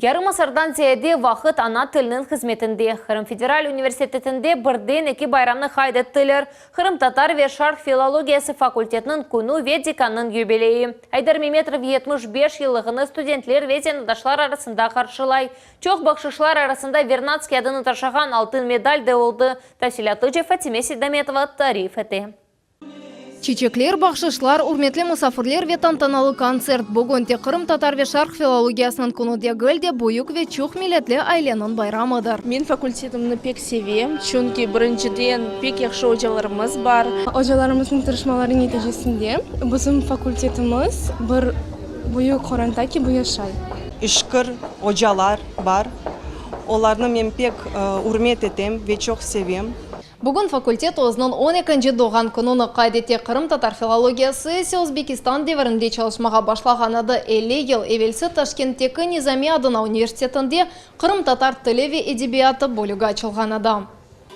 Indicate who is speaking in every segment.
Speaker 1: Yarım asırdan ziyade vaqıt ana tilniñ hızmetinde, Qırım federal universitetinde birden eki bayramnı qayd ettiler, qırımtatar ve şarq filologiyası fakultetiniñ künü ve dekannıñ yubileyi. Aydar Memetrov yetmiş beş yıllığını studentler ve zenaatdaşlar arasında qarşılay. Çoq bahşışlar arasında Vernadskiy adını taşığan altın medal de oldı, tafsilâtlıca Fatime Seydametova tarif ete.
Speaker 2: Çiçekler, bahşışlar, ürmetli musafirler ve tantanalı kontsert, bugün tek qırımtatar ve şarq filologiyasınıñ künü degil de, büyük ve çoq milletli aileniñ bayramıdır. Men fakultetimni
Speaker 3: pek sevem, çünki, birinciden, pek yahşı ocalarımız bar. Ocalarımıznıñ tırışmaları neticesinde bizim fakultetimiz bir. Büyük qoronta kibi yaşay. İşqır
Speaker 4: ocalar bar. Olarnı men pek ürmet etem ve çoq sevem. Bugün fakultet
Speaker 2: özüniñ on ekinci doğğan kününi qayd ete. Qırımtatar filologiyası ise Özbekistan devirinde çalışmağa başlağan edi. Elli yıl evelsi Taşkentteki Nizamiy adına universitetinde qırımtatar tili ve edebiyatı bölügi açılğan edi.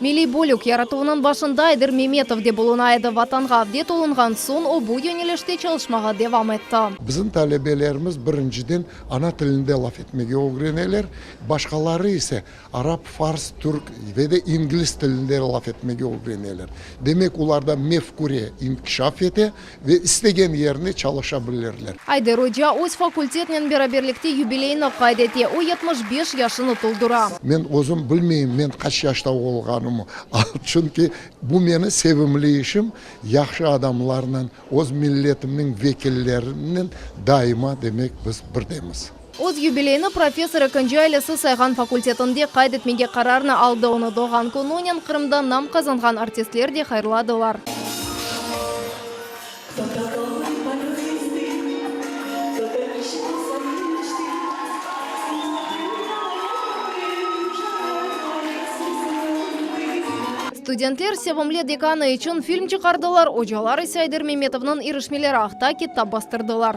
Speaker 2: Milliy bölük yaratuvınıñ başında Ayder Memetov de buluna edi. Vatanğa avdet olunğan soñ, o bu yönelişte çalışmağa devam etti. Bizim talebelerimiz
Speaker 5: birinciden ana tilinde laf etmege ögreneler, başqaları ise arap, fars, türk ve de ingliz tilinde laf etmege ögreneler. Demek, olarda mefküre inkişaf ete, Ve istegen yerine çalışa bilirler. Ayder oca öz
Speaker 2: fakultetnen beraberlikte yubileyni qayd ete, o yetmiş beş yaşını toldura. Men özüm
Speaker 5: bilmeyim, men qaç yaşta olğanımı, çünki bu meni sevimli işim, yahşı adamlarnen, öz milletimniñ vekillerinen daima, demek, biz birdemiz. Öz yubileyini
Speaker 2: professor ekinci ailesi sayğan fakultetinde qayd etmege qararnı aldı, onı doğğan kününen Qırımda nam qazanğan artistler de hayırladılar. Studentler sevimli dekanı içün film çıqardılar, ocalar ise Ayder Memetovnıñ irişmeleri aqta kitap bastırdılar.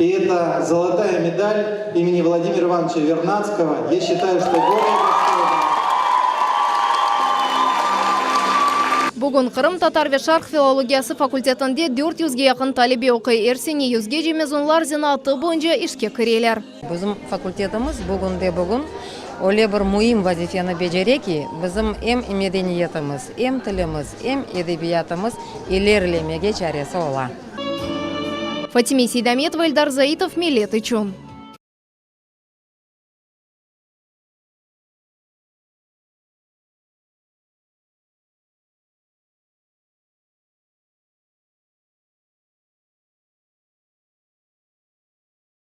Speaker 6: I eta Zolotaya medal imeni Vladimira Ivanıça Vernadskıo, ya şıtayı, şto bolее dostojnaya.
Speaker 2: Bugün Qırım tatar ve şarq filologiyası fakultetinde dört yüzge yaqın talebe oquy, er sene yüzgece mezunlar zanaatı boyunca işke kireler. Bizim fakultetimiz
Speaker 7: bugün de bugün öyle bir müim vazifeni becere ki, bizim em medeniyetimiz, em tilimiz, em edebiyatımız ilerlemege
Speaker 2: çaresi
Speaker 7: ola. Fatime
Speaker 2: Seydametova, Eldar Zaitov,
Speaker 7: Millet
Speaker 2: içün.